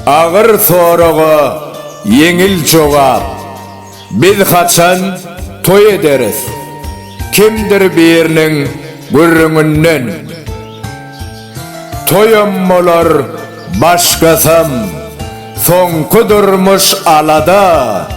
Agyr soraga ýeňil jogap. Biz haçan toý ederis? Kimdir biriniň gürrüňinden. Toýam bolar, başgasam. Soňky durmuş alada.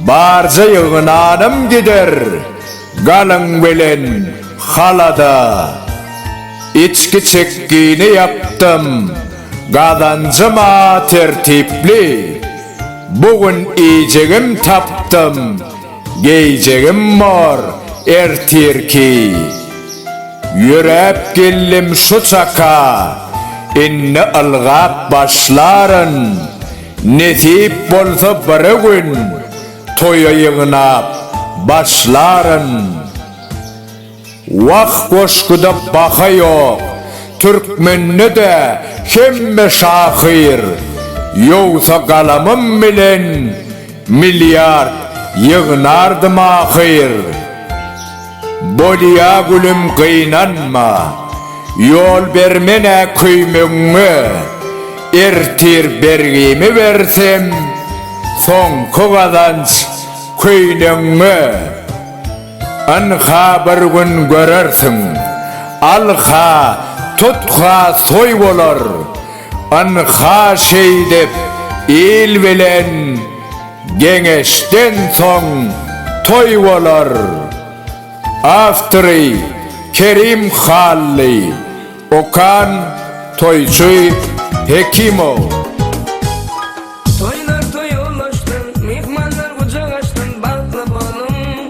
Barja ýygnanam gider. Galyň bilen halada içki çekgini ýapdym. Gazanjyma tertipli bu gün iýjegim tapdym. Geýjegim bor ertirki. Ýöräp geldim şu çaka, indi ylgap başlaryn. Nesip bolsa bir gün. Toýa ýygnap başlaryn. Wah goşguda baha ýok türkmende de hemme şahyr ýogsa galamym bilen milliard ýygnardym ahyr. Bolýa gülüm gynanma, ýol bermen-ä köýmegiňe, Ertir bergimi bersem, soňky gazanç köýnegiňe. Ynha bir gün görersiň, al-ha, tut-ha toý bolar, Ynha şeýdip il bilen. Geňeşden soň toý bolar. Awtory, Kerim Hally. Okan, Toýçy Hekimow. Toýlar toýa ulaşsyn, myhmanlar gujak açsyn, bagtly boluň!